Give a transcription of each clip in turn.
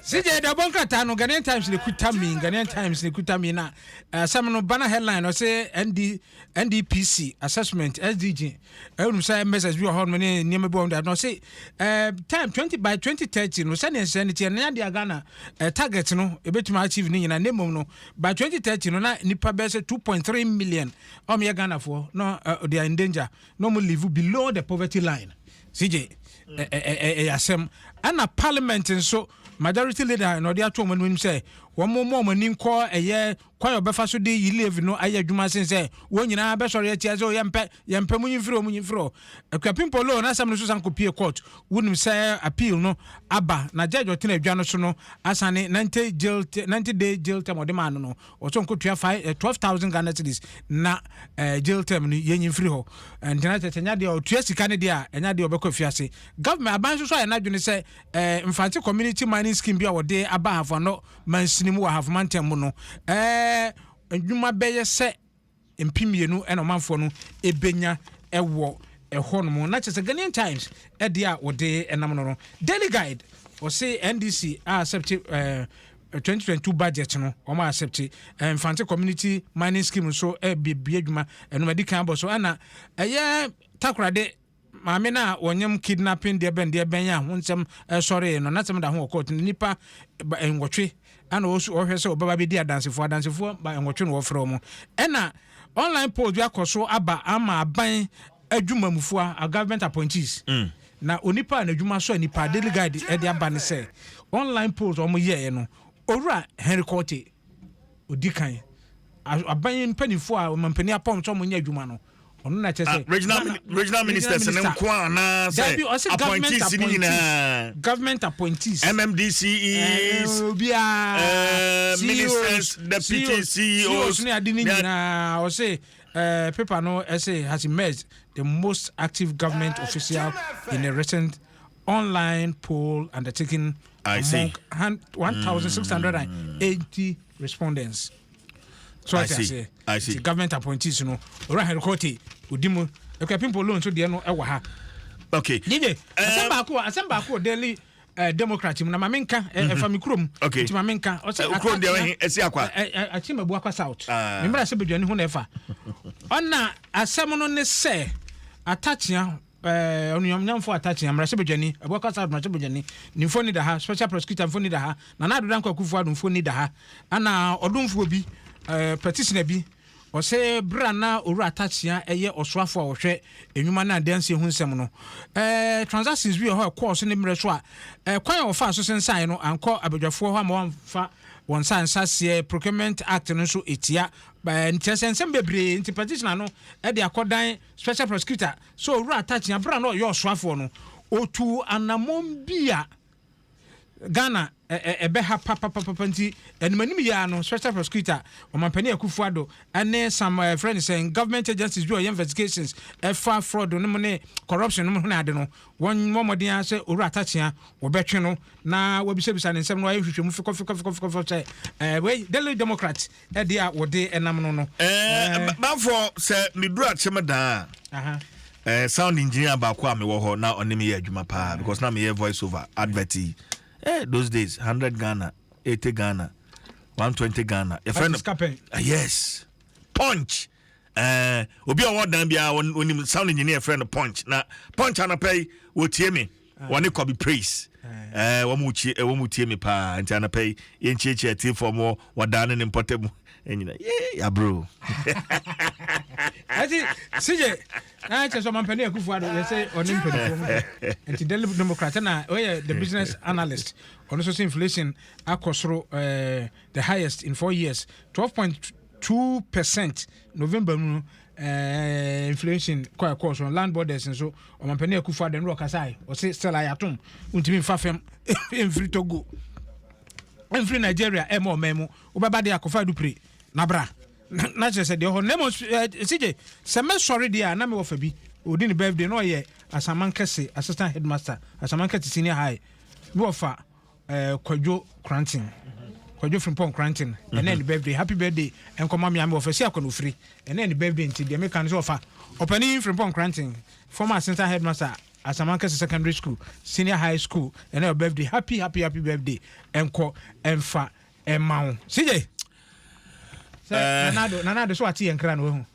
sije da bɔ nkrataa no ghanaian times ne kuta mi ghanaian times ne kuta mi na asɛm eh, no bana headline ɔsɛ nd ndpc assessment sdg ɛwonum eh, sɛ messages bi wɔ hɔ nom ne nneɛma bi wɔ hɔ na ɔsɛ eh, time 20 by 2030 no sɛdeɛ nsɛ no tiɛ ne adeɛ ghana target no ɛbɛtumi achieve ne nyina ne mmom no by 2030 no na nipa bɛyɛ sɛ 2.3 million ɔmyɛ ghanafoɔ na they are in danger na ɔmo live below the poverty line CJ, ɛyɛ asɛm. Ɛna parliament nso, majority leader na ɔde ato wɔn anim sɛ wɔn mmɔ wɔn ani nkɔ ɛyɛ kwan a ɔbɛfa so de yi levy no ayɛ adwuma sen sɛ wɔn nyinaa bɛsɔre atia sɛ yɛmpɛ yɛmpɛ mu nyimfiri mu nyimfiri Akuapimpo Low n'asɛm no so san kɔpie court wonim sɛ appeal no aba na judge ɔtena adwa no so no asane 90 jail 90 day jail term ɔde maa no no Ɔsɛ ɔnkɔtua five eh, twelve thousand Ghana cedis na eh, jail term no yɛnyi mfiri hɔ. Eh, nti na kyerɛ sɛ ɛnyɛ adeɛ a ɔtua sika no deɛ a ɛnyɛ adeɛ a ɔbɛkɔ afiase. Government aban nso so ayɛ n'adwene sɛ eh, Mfantse Community Mining Scheme bi a wɔde aba Ahafo Ano mansini mu wɔ Ahafo mantam mu no eh, nnwuma bɛyɛ sɛ mpem mmienu na ɔmanfoɔ no bɛnya wɔ ɛhɔ nom. Na kyerɛ sɛ Ghanaian Times deɛ a wɔde nam no no. Daily Guide ɔse NDC a accept eh, 2022 budget no wɔn a accept eh, Mfante community mining scheme nso ɛbɛbie adwuma ɛnum adi kan abɔ so ɛna ɛyɛ takorade Maame no a ɔnyam kidnapping deɛbɛndeɛbɛn a ho nsɛm sɔree no, n'asɛm da ho wɔ court no. Nnipa ba nwɔtwe na wɔhwɛ sɛ wɔbɛba abɛdi adansefoɔ. Adansefoɔ ba nwɔtwe na wɔfrɛ wɔn. Ɛna online polls bi akɔ so aba ama aban adwumamufua, a government appointees. Mm. Na onipa a n'adwuma sɔ nnipa, Daily Guide ɛde aba ne sɛ online polls a wɔyɛɛ no, Owura Henry Quartey odi kan. Aban mpanimfoɔ a ɔmampanin apɔn sɛ wɔnyɛ adwuma no, ɔno na kyɛ sɛ ah, regional regional ministers ne nko a anaasɛ appointees ne nyinaa government appointees mmdc is obiara ministers deputy ceos ne ade ne nyinaa ɔse uh, paper no ɛsɛ has emerged the most active government uh, official in a recent online poll undertaken I among 1,680 mm. respondents. so ate aseɛ nti government appointees no owura henry kɔte odi mu ɛkɔ apimpo loan so deɛ no ɛwɔ ha okay dj eh, asɛm baako asɛm baako daily eh, democrat mu na maame nka eh, mhm. ɛfa me kurom nti maame nka ɔsɛ ɛsi akwa akyi mabu akwa south ah. memmra sɛ badwani ho na ɛfa ɔna asɛm no ne sɛ atakyea Ɛɛ Onuamnyamfo Atakye, Mmarahyɛbadwani, Abu Akwa South Mmarahyɛbadwani, ne mfoni da ha, Special Prosecutor mfoni da ha, Nana Addo Dankwa Akufo Addo mfoni da ha, ɛna ɔdomfoɔ bi, ɛɛ petitioner bi, ɔse bere a na Owura Atakyea yɛ ɔsoafo a ɔhwɛ nnwuma ne adansie ho nsɛm no, ɛɛ transactions bi wɔ hɔ a ɛkɔɔ so ne mmerɛ so a, ɛɛ kwan a wɔfaa so sensaeɛ no ankɔ abadwafoɔ hɔ amma wɔamfa wɔn nsa anhyɛ aseɛ, Procurement Act no nso tia, ɛɛ kyerɛ sɛ nsɛm bebree nti petitioner no de akɔdan Special Prosecutor, sɛ Owura Atakyea berɛ a na ɔyɛ ɔsoafoɔ no, ɔtuu anammɔn bi a Ghana ɛbɛha papapapa nti animanim yi ara no Special Prosecutor Ɔmampanin Akuffo Addo ne some ɛfrɛ no sɛn government agencies bi a ɔyɛ investigations ɛfa fraud no mu ne corruption no mu hene ade no wɔmmɔ mmɔden ara sɛ Owura Atakyea wɔbɛtwe no na wɔabisabisa no nsɛm na wɔayɛ nhwehwɛmu fekɔfekɔfekɔfekɔ sɛ wei Daily Democrat Ɛdeɛ a wɔde nam no no. Ɛɛ bafo sɛ me duru akyem daa a. Aha. Ɛɛ sound engineer baako a mewɔ hɔ na ɔne me yɛ adwuma paa because na meyɛ voice over advert yi. Eh those days hundred Ghana, eighty Ghana, one twenty Ghana. Yɛfrɛ Ati no sika pɛn. Ah, yes punch ɛɛ obi a ɔwɔ dan biara wɔn- wɔnim sound engineer yɛfrɛ no punch na punch anɔpɛ yi wɔtie me. wɔne kɔbi praise ɛɛ wɔn mu tie wɔn mu tie mi paa nti anapa yi yɛn nkyekyɛ tie fɔm wɔ wɔdan ne ne mpɔtɛ mu ɛnyina yee yaburo. ɛti sigye naa kyerɛ sɛ ɔmampanin akufo ado yɛ sɛ ɔne mpanyinfoɔ mu nti daily democrat na ɔyɛ the business analyst ɔno nso sɛ inflation akɔ soro ɛɛ the highest in four years twelve point two percent november mu eh, inflation kɔ ɛkɔɔ so land borders nso ɔmampanin akufo adɛ no ɔkasae ɔse stella yɛatom wontumi mfa fam mfiri togo mfiri nigeria ɛma ɔman mu wobɛba deɛ akɔfa adupire na bra na kyerɛ sɛ deɛ ɔhɔ na mmom sigye sɛ mɛsɔre deɛ a na mewɔ fa bi ɔdi ne birthday na ɔyɛ asaman kɛse assistant headmaster asaman kɛse senior high mewɔ fa Eh, Kwadwo Kranten. Kwadwo Frimpong Kranten. Ɛnɛ ne mhm. birthday. Happy birthday. Nkɔma me ame wɔfɛ si akɔ no firi. Ɛnɛ ne birthday nti deɛ meka no sɛ ɔfa. Ɔpani Frimpong Kranten. Former assistant headmaster Asamankese Secondary School, Senior High School. Ɛnɛ birthday. Happy happy happy birthday. Ɛnkɔ ɛnfa ɛma wo. CJ. Sɛ eh. nanado nanado so wate yɛn kra no wahu.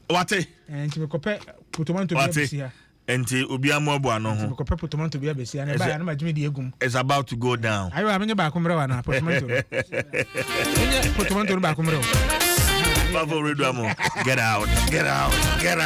Wate. Eh, nti mekɔpɛ potomanto bi abisi ha. Enti obiara mmoaboa ano ho. Enti mekɔpɛ potomanto bi abɛsi, na ɛbaeɛ a na magye me deɛ agu mu. It's about to go down. Ayo a, menyɛ baako mmerɛ wo anaa, potomanto no. Menyɛ potomanto no baako mmerɛ wo. Papa Oredua mo, get out, get out, get out.